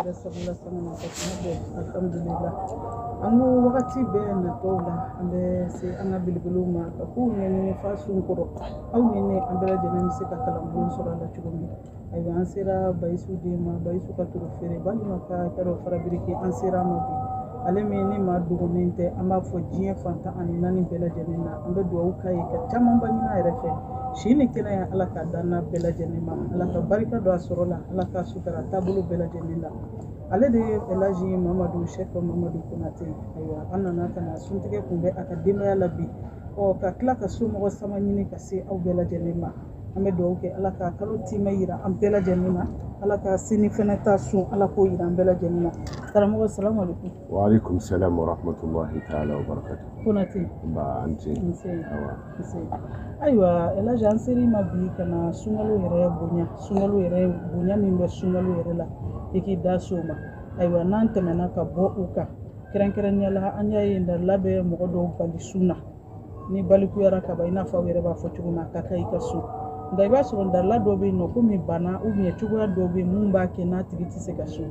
Sabula saŋana ka tɛmɛ bɛɛ alhamdulila an ko wagati bɛɛ natɔw la an bɛ se an ka belebelew ma ka kow ɲɛɲini f'a sun kɔrɔ aw ni ne an bɛɛ lajɛlen bɛ se ka kalanbon sɔrɔ a la cogo min ayiwa an sera bayisu den ma bayisu ka toro feerebali Maka kɛ dɔ fara biriki an sera a ma bi ale min ni maa dogonnen tɛ an b'a fɔ diɲɛ fan tan ani naani bɛɛ lajɛlen na an bɛ dugawu k'a ye ka camanba ɲini a yɛrɛ fɛ si ni kɛnɛya ala k'a d'an n'a bɛɛ lajɛlen ma ala ka barika don a sɔrɔ la ala ka Tara taabolo bɛɛ lajɛlen la ale de ye Elaji Mamadu Sɛki Mamadu Konate ye ayiwa an nana ka na suntigɛ kunbɛn a ka denbaya la bi ɔ ka tila ka somɔgɔ sama ɲini ka se aw bɛɛ lajɛlen ma an bɛ dugawu kɛ Ala ka kalo tiimɛ yira an bɛɛ lajɛlen na Ala ka sini fɛnɛ ta sun Ala k'o yira an bɛɛ lajɛlen na karamɔgɔ salamu aleykum waaleykum salam warahmatulahi taala wabarakatu Konate nba an ce an ce awa ayiwa elaji an ser'i ma bi ka na sunkalo yɛrɛ bonya sunkalo yɛrɛ bonya min bɛ sunkalo yɛrɛ la i k'i da s'o ma ayiwa n'an tɛmɛna ka bɔ o kan kɛrɛnkɛrɛnnenya la an y'a ye dalilu bɛ mɔgɔ dɔw bali sun na n'i balikuyara kaban i n'a fɔ aw yɛrɛ b'a fɔ cogo min a ka kan i ka sun nka i b'a sɔrɔ dalilu dɔ bɛ yen nɔ komi bana cogoya dɔ bɛ yen mun b'a kɛ n'a tigi tɛ se ka sun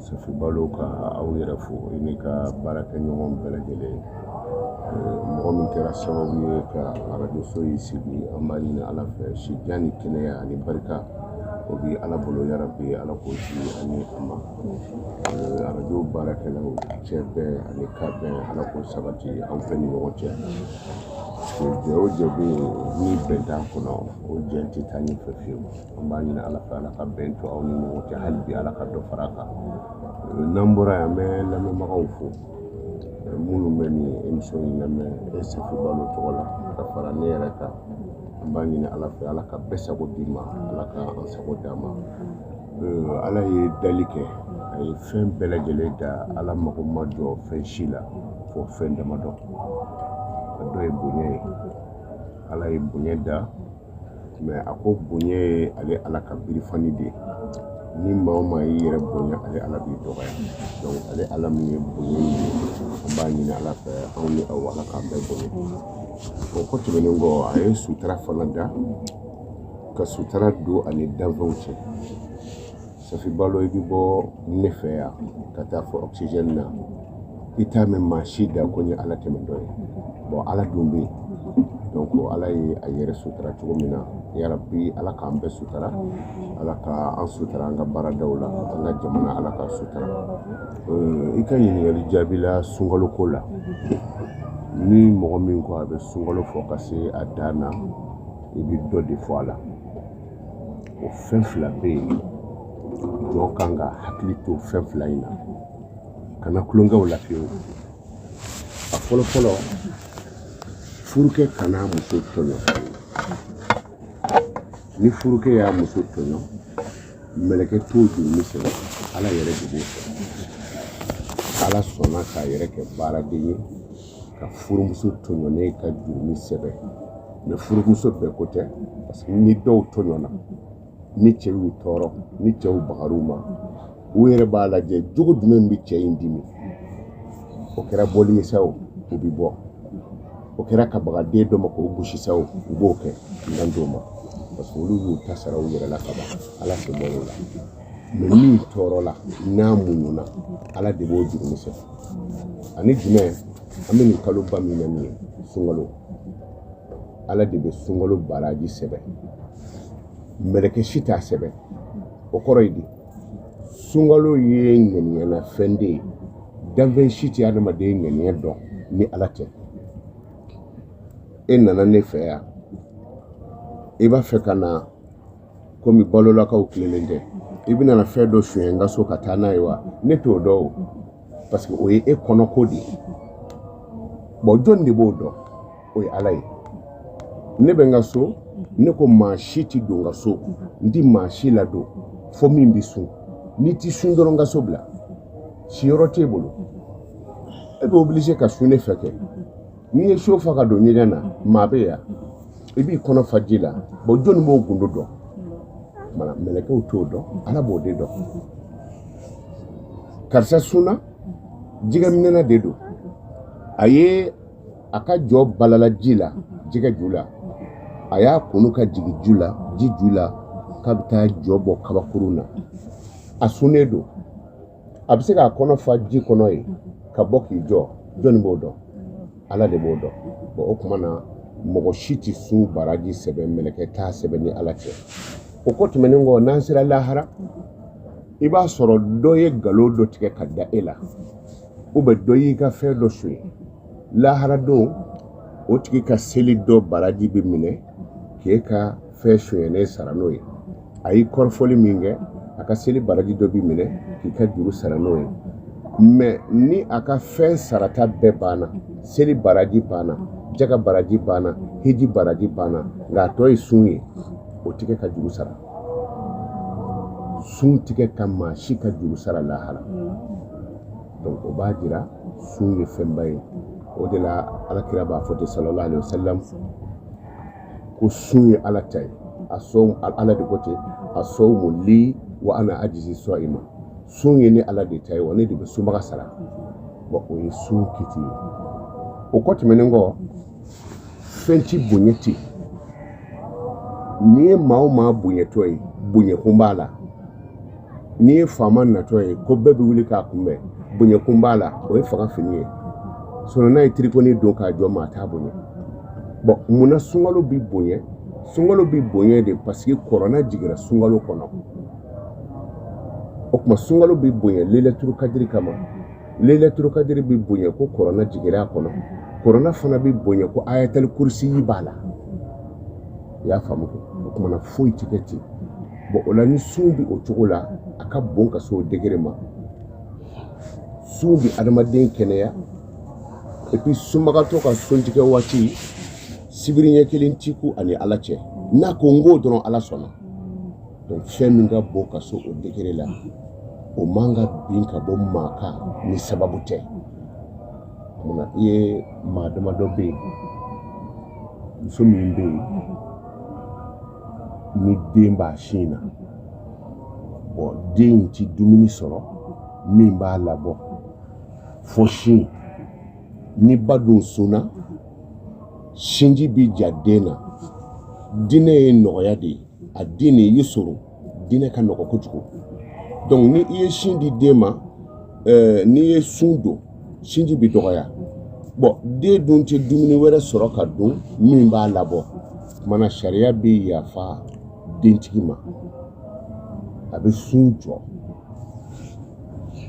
Safi Balo ka aw yɛrɛ fo i n'i ka baarakɛ ɲɔgɔn bɛɛ lajɛlen mɔgɔ min kɛra sababu ye ka arajo so in sigi an b'a ɲini Ala fɛ si jan ni kɛnɛya ani barika o bi Ala bolo yarabi Ala k'o di an ni a ma arajo baarakɛlaw cɛ bɛn ani kanbɛn Ala k'o sabati aw bɛɛ ni ɲɔgɔn cɛ jɛ o jɛ bɛ yen ni bɛn t'a kɔnɔ o jɛ tɛ taa ɲɛfɛ fiyewu an b'a ɲini ala fɛ ala ka bɛn to aw ni ɲɔgɔn cɛ hali bi ala ka dɔ fara a kan n'an bɔra yan an bɛ lamɛnbagaw fo minnu bɛ nin émission in lamɛn e safi balo tɔgɔ la ka fara ne yɛrɛ kan an b'a ɲini ala fɛ ala ka bɛɛ sago d'i ma ala ka an sago d'an ma ala ye dali kɛ a ye fɛn bɛɛ lajɛlen da ala mago ma jɔ fɛn si la fo fɛn damadɔ a dɔ ye bonya ye ala ye bonya da mais a ko bonya ye ale ala ka birifani de ye ni maa o maa y'i yɛrɛ bonya ale ala b'i dɔgɔya donc ale ala min ye bonya ye an b'a ɲini ala fɛ anw ni aw ala k'an bɛɛ bonya o ko tɛmɛnen kɔ a ye sutara fana da ka sutara don a ni danfɛnw cɛ Safi Balo i bɛ bɔ ne fɛ yan ka taa fo oxygène na i t'a mɛn maa si da ko n ye Ala tɛmɛtɔ ye bon Ala dun bɛ yen donc Ala ye a yɛrɛ sutara cogo min na yarabi Ala k'an bɛɛ sutara Ala ka an sutara an ka baaradaw la an ka jamana Ala k'a sutara euh, i ka ɲininkali jaabi la sunkalo ko la ni mɔgɔ min ko a bɛ sunkalo fɔ ka se a dan na i bɛ dɔ de fɔ a la. o fɛn fila bɛ yen jɔn kan ka hakili to fɛn fila in na kana tulon kɛ u la fiyewu a fɔlɔ fɔlɔ furukɛ kana muso tɔɲɔ ni furukɛ y'a muso tɔɲɔ mɛlɛkɛ t'o jurumi sɛbɛn ala yɛrɛ de b'o kɛ ala sɔnna k'a yɛrɛ kɛ baaraden ye ka furumuso tɔɲɔnen ka jurumi sɛbɛn mais furumuso bɛɛ ko tɛ parce que ni dɔw tɔɲɔna ni cɛ y'u tɔɔrɔ ni cɛw bagar'u ma u yɛrɛ b'a lajɛ jogo jumɛn bɛ cɛ in dimi o kɛra bɔli ye sa o u bɛ bɔ o kɛra ka baga den dɔ ma k'o gosi sa o u b'o kɛ dan t'o ma parce que olu y'u ta sara u yɛrɛ la kaban ala sen bɔla o la min tɔɔrɔla n'a muɲuna ala de b'o jurumi sɛbɛn ani jumɛn an bɛ nin kaloba min na nin ye sunkalo ala de bɛ sunkalo baraji sɛbɛn mɛlɛkɛ si t'a sɛbɛn o kɔrɔ ye di sunkalo ye ŋaniya na fɛn de ye danfɛn si tɛ adamaden ŋaniya dɔn ni ala tɛ e nana ne fɛ yan i b'a fɛ ka na komi balolakaw tilennen tɛ i bɛna na fɛn dɔ suɲɛ n ka so ka taa n'a ye wa ne t'o dɔn o parce que o ye e kɔnɔko de ye bon jɔni de b'o dɔn o ye ala ye ne bɛ n ka so ne ko maa si tɛ don n ka so n tɛ maa si ladon fo min bɛ sun n'i tɛ sun dɔrɔn n ka so bila siyɔrɔ t'e bolo e bɛ obligé ka sun ne fɛ kɛ n'i ye siyo fa ka don ɲɛgɛn na maa bɛ yan i b'i kɔnɔ fa ji la bon jɔnni b'o gundo dɔn maa ni mɛlɛkɛw t'o dɔn ala b'o de dɔn karisa sunna jɛgɛminɛna de don a ye a ka jɔ balala ji la jɛgɛ ju la a y'a tunun ka jigin ju la ji ju la k'a bɛ taa jɔ bɔ kabakurun na a sunnen don a bɛ se k'a kɔnɔ fa ji kɔnɔ yen ka bɔ k'i jɔ jɔnni b'o dɔn ala de b'o dɔn bon o tuma na mɔgɔ si tɛ sun baraji sɛbɛn mɛlɛkɛ t'a sɛbɛn ni ala tɛ o ko tɛmɛnen kɔ n'an sera lahara i b'a sɔrɔ dɔ ye nkalon dɔ tigɛ ka da e la ou bien dɔ y'i ka fɛn dɔ sonya lahara don o tigi ka seli dɔ baraji bɛ minɛ k'e ka fɛn sonyɛnen sara n'o ye a y'i kɔrɔfɔli min kɛ a ka seli baraji dɔ bɛ minɛ k'i ka juru sara n'o ye mais ni a ka fɛn sarata bɛɛ banna seli baraji banna jaga baraji banna hiji baraji banna nka a tɔ ye sun ye o tɛ kɛ ka juru sara sun tɛ kɛ ka maa si ka juru sara lahara donc o b'a jira sun ye fɛnba ye o de la alakira b'a fɔ ten sallallahu alaihi wasallam ko sun ye ala ta ye a sɔn ala de ko ten asɔmu li wa ana ajizi sɔn i ma sun ye ne ala de ta ye wa ne de bɛ sunbaga sara bɔn o ye sun kiti ye o kɔ tɛmɛnen kɔ fɛn ti bonya ten n'i ye maa o maa bonyatɔ ye bonyakun b'a la n'i ye faama natɔ ye ko bɛɛ bɛ wuli k'a kunbɛn bonyakun b'a la o ye fanga fini ye sinɔn n'a ye tirikɔni don k'a jɔ maa t'a bonya bɔn mun na sunkalo bi bonya sunkalo bi bonya de paseke kurana jigira sunkalo kɔnɔ o tuma sunkalo bi bonya lailatul kadiri kama lailatul kadiri bi bonya ko kurana jigira a kɔnɔ kurana fana bi bonya ko ayatul kurisiyi b'a la i y'a faamu kɛ o tumana foyi ti kɛ ten bɔn o la ni sun bi o cogo la a ka bon ka se o degere ma sun bi adamaden kɛnɛya epi sunbagatɔ ka suntigɛ waati sibiri ɲɛ kelen t'i kun ani ala cɛ n'a ko n k'o dɔrɔn ala sɔnna donc fɛn min ka bon ka se o degere la o man ka bin ka bɔ maa kan ni sababu tɛ Munna i ye maa damadɔ bɛ yen muso min bɛ yen ni den b'a sin na bɔn den in tɛ dumuni sɔrɔ min b'a labɔ fo sin ni ba dun sunna sinji bɛ ja den na diinɛ ye nɔgɔya de ye adiinu yusuru diinɛ ka nɔgɔ kojugu donc ni i ye sin di den ma eh, n'i ye sun don sinji bɛ dɔgɔya bɔn den dun tɛ dumuni wɛrɛ sɔrɔ ka dun min b'a labɔ kumana sariya bɛ yafa dentigi ma a bɛ sun jɔ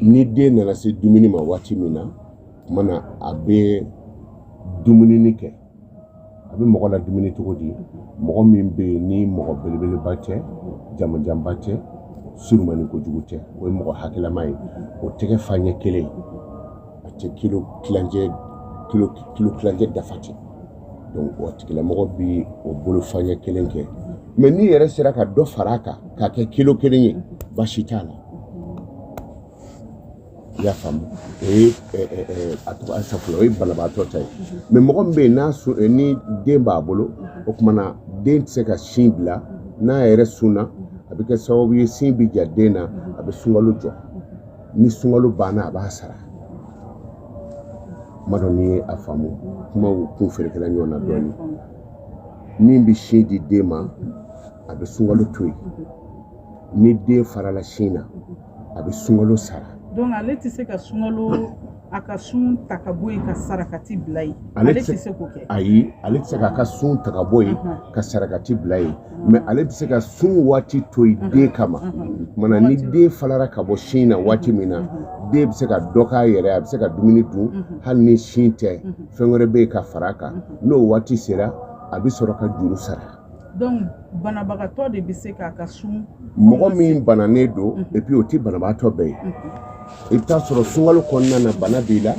ni den nana se dumuni ma waati min na kumana a bɛ dumuni kɛ a bɛ mɔgɔ ladumuni cogo di mɔgɔ min bɛ yen ni mɔgɔ belebeleba tɛ jamanjanba tɛ surumani kojugu tɛ o ye mɔgɔ hakɛlama ye o tɛgɛ fa ɲɛ kelen a tɛ kilo tilancɛ dafa dɛ donc o tigilamɔgɔ bi o bolo fa ɲɛ kelen kɛ mɛ n'i yɛrɛ sera ka dɔ fara a kan k'a kɛ kilo kelen ye baasi t'a la i y'a faamu o ye a tɔgɔ ye safo o ye banabaatɔ ta ye mɛ mɔgɔ min bɛ yen n'a sun ni den b'a bolo o kumana den tɛ se ka sin bila n'a yɛrɛ sunna a bɛ kɛ sababu ye sin bɛ ja den na a bɛ sunkalo jɔ ni sunkalo banna a b'a sara n m'a dɔn n'i y'a faamu kumaw kun ferekela ɲɔgɔn na dɔɔnin min bɛ sin di den ma a bɛ sunkalo to yen ni den farala sin na a bɛ sunkalo sara donc ale tɛ se ka sunkalo a ka sun ta ka bɔ yen ka sarakati bila yen ale tɛ se k'o kɛ ayi ale tɛ se k'a ka sun ta ka bɔ yen ka sarakati bila yen mais ale bɛ se ka sun waati to yen den kama mana ni den falara ka bɔ sin na waati min na den bɛ se ka dɔ k'a yɛrɛ a bɛ se ka dumuni dun hali ni sin tɛ fɛn wɛrɛ bɛ yen ka fara a kan n'o waati sera a bɛ sɔrɔ ka juru sara donc banabagatɔ de bɛ se k'a ka sun mɔgɔ min bananen don mhm. et puis o tɛ banabagatɔ bɛɛ ye mhm. i bɛ taa sɔrɔ sunkalo kɔnɔna na bana b'i la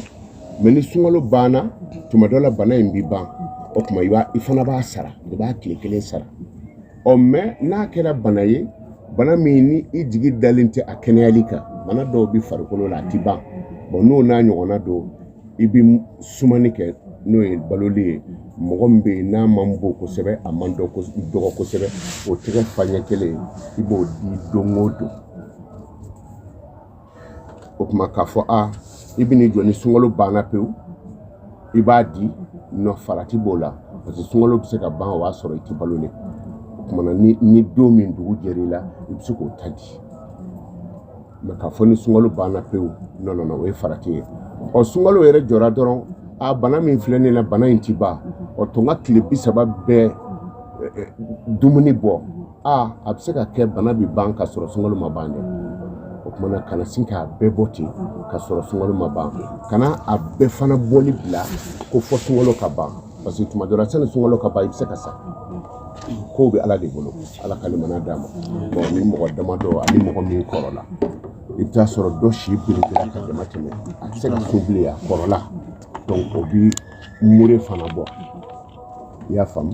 mais ni sunkalo banna mhm. tuma dɔ la bana in bɛ ban o tuma i b'a i fana b'a sara i b'a tile kelen sara ɔ mais n'a kɛra bana ye bana min ni i jigi dalen tɛ a kɛnɛyali kan bana dɔw bɛ farikolo la a tɛ ban bon n'o n'a ɲɔgɔnna don i bɛ sumani kɛ n'o ye baloli ye mɔgɔ min bɛ yen n'a man bon kosɛbɛ a man dɔgɔ kosɛbɛ o tɛgɛ fa ɲɛ kelen i b'o di don o don o tuma k'a fɔ a i bɛn'i jɔ ni sunkalo banna pewu i b'a di non farati b'o la parce que sunkalo bɛ se ka ban o b'a sɔrɔ i tɛ balolen o tuma ni ni don min dugu jɛra i la i bɛ se k'o ta di mais k'a fɔ ni sunkalo banna pewu non non non o ye farati ye ɔ sunkalo yɛrɛ jɔra dɔrɔn a bana min filɛ ne na bana in ti ban ɔ to n ka tile bi saba bɛɛ dumuni bɔ a a bɛ se ka kɛ bana bɛ ban ka sɔrɔ sunkalo ma ban dɛ o tuma na kana sin k'a bɛɛ bɔ ten ka sɔrɔ sunkalo ma ban kana a bɛɛ fana bɔli bila ko fo sunkalo ka ban parce que tuma dɔ la sani sunkalo ka ban i bɛ se ka sa kow bɛ ala de bolo ala ka limaniya d'an ma bon ni mɔgɔ damadɔ ani mɔgɔ min kɔrɔla i bɛ taa sɔrɔ dɔ si belebele ka damatɛmɛ a tɛ se ka sun bilen a kɔrɔla donc o bi mure fana bɔ i y'a faamu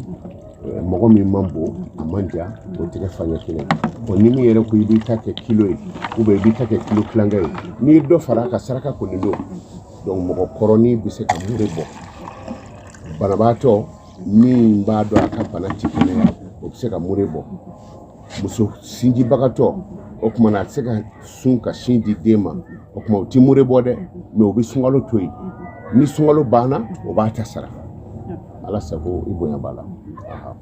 eh, mɔgɔ min man bon a man ja o tɛgɛ faɲɛ kelen bon ni min yɛrɛ ko i b'i ta kɛ kilo ye ou bien i b'i ta kɛ kilo tilankɛ ye n'i ye dɔ fara a kan saraka kɔni don donc mɔgɔ kɔrɔnin bɛ se ka mure bɔ banabaatɔ min b'a dɔn a ka bana ti kɛnɛya o bɛ se ka mure bɔ muso sinjibagatɔ o tuma na a tɛ se ka sun ka sin di den ma o tuma o ti mure bɔ dɛ mais o bɛ sunkalo to yen ni sunkalo banna o b'a ta sara ala sago i bonya b'a la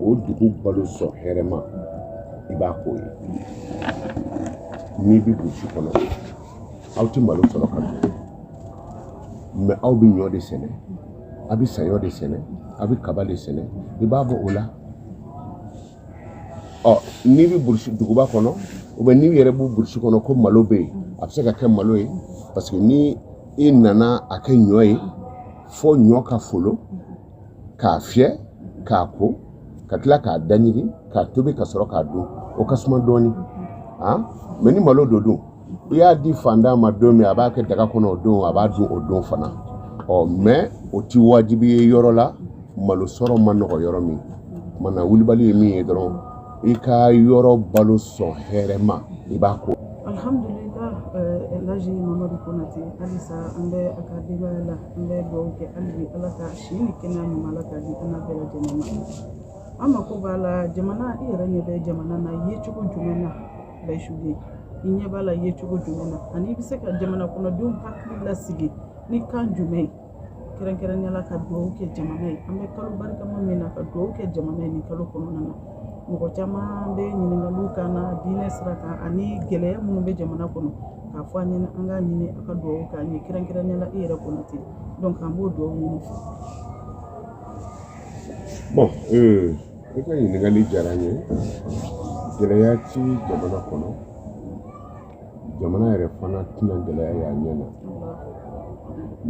o dugu balo sɔn hɛrɛma i b'a k'o ye n'i bɛ burusi kɔnɔ aw tɛ malo sɔrɔ ka dun mais aw bɛ ɲɔ de sɛnɛ a bɛ saɲɔ de sɛnɛ a bɛ kaba de sɛnɛ i b'a bɔ o la ɔ n'i bɛ burusi duguba kɔnɔ ou bien n'i yɛrɛ bɛ burusi kɔnɔ ko malo bɛ yen a bɛ se ka kɛ malo ye parce que ni i nana a kɛ ɲɔ ye fo ɲɔ ka folo k'a fiyɛ k'a ko ka tila k'a da ɲigin k'a tobi ka sɔrɔ k'a dun o ka suma dɔɔni han mɛ ni malo don dun i y'a di fantan ma don min a b'a kɛ daga kɔnɔ o don a b'a dun o don fana ɔ mɛ o ti wajibi ye yɔrɔ la malo sɔrɔ ma nɔgɔ yɔrɔ min mana wulibali ye min ye dɔrɔn i ka yɔrɔ balo sɔn hɛrɛ ma i b'a ko alhamdulillah laji mamadu konate halisa an bɛ a ka denbaya la an bɛ dugawu kɛ hali bi ala ka si ni kɛnɛya ɲuman ala k'a di an bɛɛ lajɛlen ma an mako b'a la jamana i yɛrɛ ɲɛ bɛ jamana na ye cogo jumɛn na bayisuden i ɲɛ b'a la ye cogo jumɛn na ani i bɛ se ka jamana kɔnɔdenw hakili lasigi ni kan jumɛn ye kɛrɛnkɛrɛnnenya la ka dugawu kɛ jamana ye an bɛ kalo barikama min na ka dugawu kɛ jamana ye nin kalo kɔnɔna na mɔgɔ caman bɛ ɲininkaliw kan na diinɛ sira kan ani gɛlɛya minnu bɛ jamana kɔnɔ k'a fɔ an ɲɛna an k'a ɲini a ka dugawu k'an ye kɛrɛnkɛrɛnnenya la i yɛrɛ konate an b'o dugawu ɲini bon ee i ka ɲininkali diyara n ye gɛlɛya ti jamana kɔnɔ jamana yɛrɛ fana tɛna gɛlɛya y'a ɲɛ na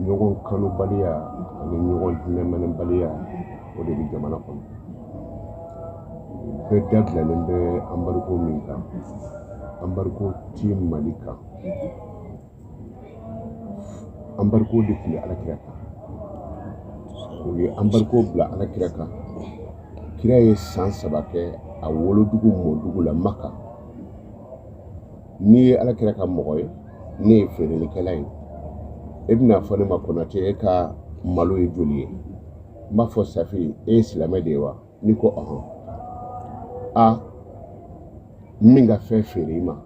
ɲɔgɔn kanubaliya ani ɲɔgɔn hinɛminɛbaliya o de bɛ jamana kɔnɔ bɛɛ da bilalen bɛ anbariko min kan anbariko ti mali kan anbariko de tun bɛ alakira kan u ye anbariko bila alakira kan kira ye san saba kɛ a wolodugu mɔdugu la maka n'i ye ala kira ka mɔgɔ ye ne ye feerelikɛla ye e bɛna fɔ ne ma konatɛ e ka malo ye joli ye n b'a fɔ safi e ye silamɛ de ye wa n'i ko ɔhɔn a n bɛ n ka fɛn feere i ma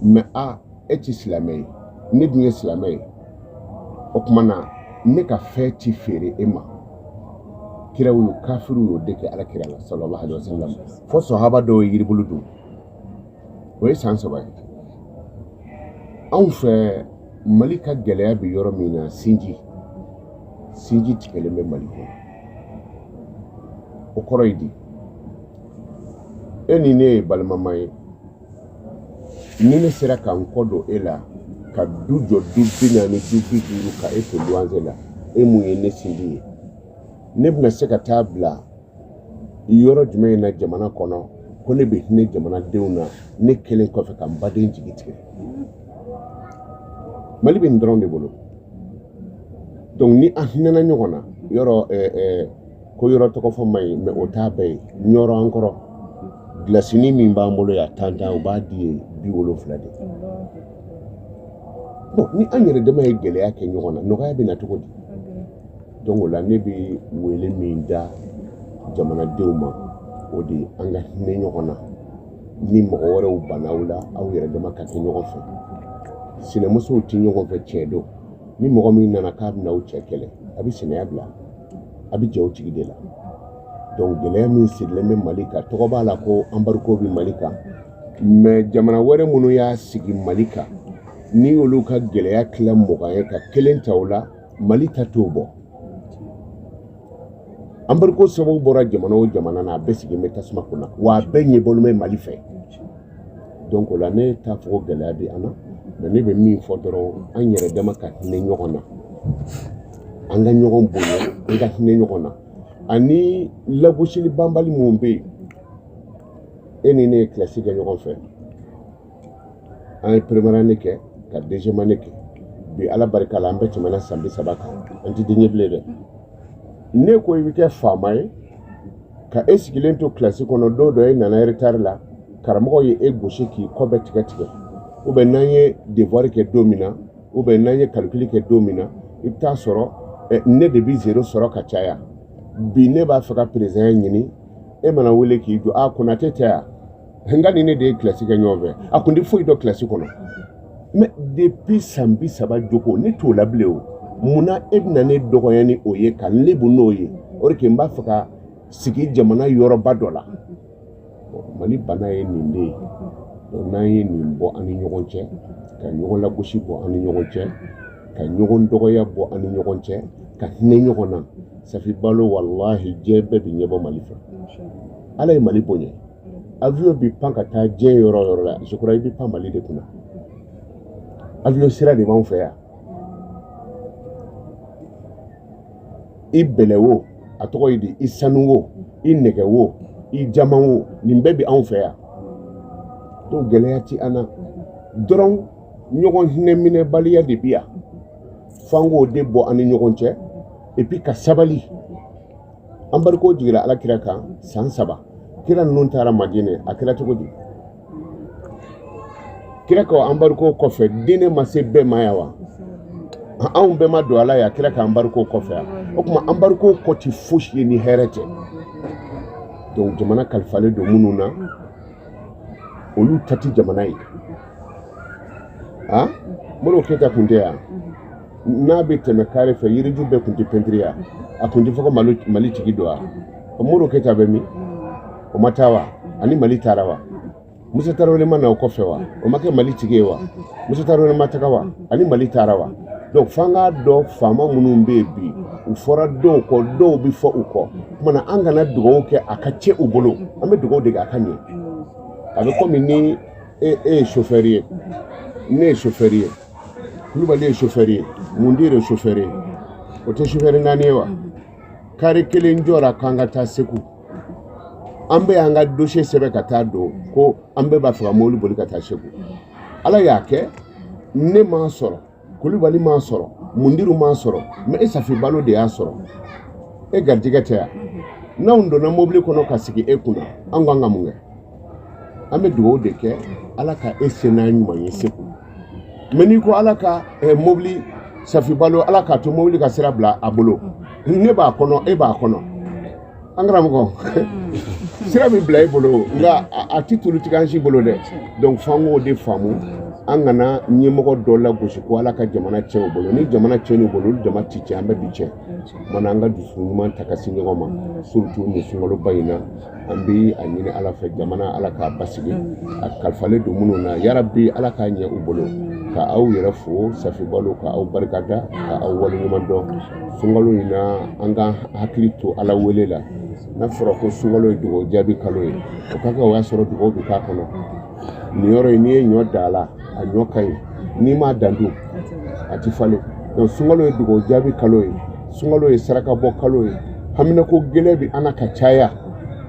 mɛ a e ti silamɛ ye ne dun ye silamɛ ye o tuma na ne ka fɛn ti feere e ma kiraw y'o kafiriw y'o de kɛ ala kira la sallallahu alaihi wasallam fo sahaba dɔw ye yiribulu dun o ye san saba ye anw fɛ mali ka gɛlɛya bɛ yɔrɔ min na sinji sinji tigɛlen bɛ mali kɔnɔ o kɔrɔ ye di e ni ne ye balimama ye ni ne sera ka n kɔ don e la ka du jɔ du bi naani du bi duuru ka e to luwanze la e min ye ne sinji ye ne bɛna se ka taa bila yɔrɔ jumɛn in na jamana kɔnɔ ko ne bɛ hinɛ jamanadenw na ne kelen kɔfɛ ka n baden jigi tigɛ mali bɛ nin dɔrɔn de bolo donc ni an hinɛna ɲɔgɔn na yɔrɔ eh, eh, ko yɔrɔ tɔgɔ fɔ man ɲi mɛ o t'a bɛɛ ye ɲɔrɔ an kɔrɔ gilasini min b'an bolo yan tantan o b'a di yen bi wolonfila de bon ni an yɛrɛ dama ye gɛlɛya kɛ ɲɔgɔn na nɔgɔya bɛ na cogo di Donc o la ne bɛ wele min da jamanadenw ma o de ye an ka hinɛ ɲɔgɔn na ni mɔgɔ wɛrɛw banna aw la aw yɛrɛ dama ka kɛ ɲɔgɔn fɛ sinamusow tɛ ɲɔgɔn fɛ tiɲɛ don ni mɔgɔ min nana k'a bɛna aw cɛ kɛlɛ a bɛ sinɛya bila a bɛ jɛ o tigi de la donc gɛlɛya min sigilen bɛ mali kan tɔgɔ b'a la ko embargo bɛ mali kan mais jamana wɛrɛ minnu y'a sigi mali kan ni olu ka gɛlɛya tila mugan ye ka kelen ta o la mali ta t'o bɔ embargo sababu bɔra jamana o jamana na a bɛɛ sigilen bɛ tasuma kunna wa a bɛɛ ɲɛbɔlen bɛ mali fɛ donc o la ne t'a fɔ ko gɛlɛya bɛ an na mais ne bɛ min fɔ dɔrɔn an yɛrɛ dama ka hinɛ ɲɔgɔn na an ka ɲɔgɔn bonya an ka hinɛ ɲɔgɔn na ani lagosili banbali min bɛ yen e ni ne ye kilasi kɛ ɲɔgɔn fɛ an ye première année kɛ ka deuxième année kɛ bi ala barika la an bɛɛ tɛmɛna san bi saba kan an tɛ den ye bilen dɛ ne ko i bɛ kɛ faama ye ka e sigilen to kilasi kɔnɔ don dɔ e nana retard la karamɔgɔ ye e gosi k'i kɔ bɛɛ tigɛ tigɛ ou bien n'an ye devoir kɛ don min na ou bien n'an ye calcul kɛ don min na i bɛ taa sɔrɔ eh, ne de bɛ zero sɔrɔ ka caya bi ne b'a fɛ ka président ɲini e mana wele k'i jɔ a ah, konatɛ tɛ yan nka ni ne de ye kilasi kɛ ɲɔgɔn fɛ a kun tɛ foyi dɔn kilasi kɔnɔ mais depuis san bi saba jogo ne t'o la bilen o mun na e bɛna ne dɔgɔya ni o ye ka n lebu n'o ye o de kɛ n b'a fɛ ka sigi jamana yɔrɔba dɔ la mali bana ye nin de ye n'an ye nin bɔ an ni ɲɔgɔn cɛ ka ɲɔgɔn lagosi bɔ an ni ɲɔgɔn cɛ ka ɲɔgɔn dɔgɔya bɔ an ni ɲɔgɔn cɛ ka hinɛ ɲɔgɔn na safi balo walahi diɲɛ bɛɛ bɛ ɲɛbɔ mali fɛ ala ye mali bonya avion bɛ pan ka taa diɲɛ yɔrɔ o yɔrɔ la je crois i bɛ pan mali de kunna avion sira de b'anw fɛ yan i bɛlɛ wo a tɔgɔ ye di i sanu wo i nɛgɛ wo i jaman wo nin bɛɛ bɛ anw fɛ yan donc gɛlɛya ti an na dɔrɔn ɲɔgɔn hinɛ minɛbaliya de bi yan f'an k'o de bɔ an ni ɲɔgɔn cɛ et puis ka sabali embargo jigira ala kira kan san saba kira ninnu taara madinɛ a kɛra cogo di kira ka embargo kɔfɛ diinɛ ma se bɛɛ ma ya wa anw bɛɛ ma don a la ya kira ka embargo kɔfɛ ya o tuma embargo kɔ ti fosi ye ni hɛrɛ tɛ donc jamana kalifalen don minnu na olu ta tɛ jamana ye a modibo keyita kun tɛ yan n'a bɛ tɛmɛ kare fɛ yiriju bɛɛ kun tɛ pɛntiri yan a kun tɛ fɔ ko mali mali tigi don wa modibo keyita bɛ min o ma taa wa ani mali taara wa musa tarawele ma na o kɔfɛ wa o ma kɛ mali tigi ye wa musa tarawele ma taga wa ani mali taara wa donc f'an k'a dɔn faama minnu bɛ yen bi u fɔra dɔw kɔ dɔw bɛ fɔ u kɔ kuma na an kana dugawu kɛ a ka tiɲɛ u bolo an bɛ dugawu de kɛ a ka ɲɛ a bɛ komi ni e e ye chauffeur ye ne ye chauffeur ye kulubali ye chauffeur ye mundiri ye chauffeur ye o tɛ chauffeur naani ye wa kari kelen jɔra k'an ka taa segu an bɛ an ka dossier sɛbɛn ka taa don ko an bɛɛ b'a fɛ ka mobili boli ka taa segu ala y'a kɛ ne m'a sɔrɔ kulubali m'a sɔrɔ mundiri m'a sɔrɔ mais e safi balo de y'a sɔrɔ e garijɛgɛ tɛ yan n'anw donna mobili kɔnɔ ka sigi e kunna an kan ka mun kɛ an bɛ dugawu de kɛ ala ka e se n'a ɲuman ye segu mais n'i ko ala ka eh, mobili safi balo ala k'a to mobili ka sira bila a bolo ne b'a kɔnɔ e b'a kɔnɔ an karamɔgɔ sira bɛ bila i bolo nka a tɛ tulu tigɛ an si bolo dɛ donc f'an k'o de faamu an kana ɲɛmɔgɔ dɔ lagosi ko ala ka jamana tiɲɛ o bolo ni jamana tiɲɛna u bolo olu dama ti tiɲɛ an bɛɛ bi tiɲɛ mana an ka dusu ɲuman ta ka se ɲɔgɔn ma surtout nin sunkaloba in na an bɛ a ɲini ala fɛ jamana ala k'a basigi a kalifalen don minnu na yarabi ala k'a ɲɛ u bolo ka aw yɛrɛ fo safi balo ka aw barikada ka aw waleɲuman dɔn sunkalo in na an ka hakili to ala wele la n'a fɔra ko sunkalo ye dugawu jaabi kalo ye o ka kɛ o y'a sɔrɔ dugawu bɛ k'a kɔnɔ nin yɔrɔ in n'i ye ɲɔ dan a la a ɲɔ ka ɲi n'i m'a dan dun a ti falen donc sunkalo ye dugawu jaabi kalo ye sunkalo ye sarakabɔ kalo ye haminako gɛlɛn bɛ an na ka caya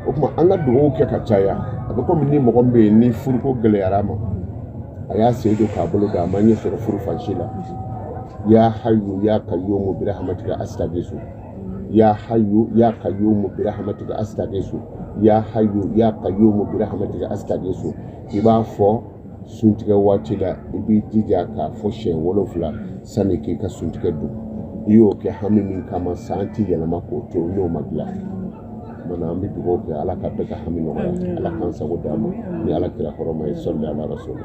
o kuma an ka dugawu kɛ ka caya a bɛ komi ni mɔgɔ min bɛ yen ni furuko gɛlɛyara a ma a y'a sen don k'a bolo da a ma ɲɛ sɔrɔ furu fan si la ya hayu ya kayyumu bi rahmatika astaghisu ya hayu ya kayyumu bi rahmatika astaghisu ya hayu ya kayyumu bi rahmatika astaghisu i b'a fɔ suntigɛ waati la i b'i jija k'a fɔ siɲɛ wolonfila sanni k'i ka suntigɛ dun i y'o kɛ hami min kama san ti yɛlɛma k'o to n'o ma dilan Mana an bɛ dugawu kɛ ala ka bɛɛ ka hami nɔgɔya ala k'an sago d'an ma ni ala kira hɔrɔma ye sɔli ala rasulu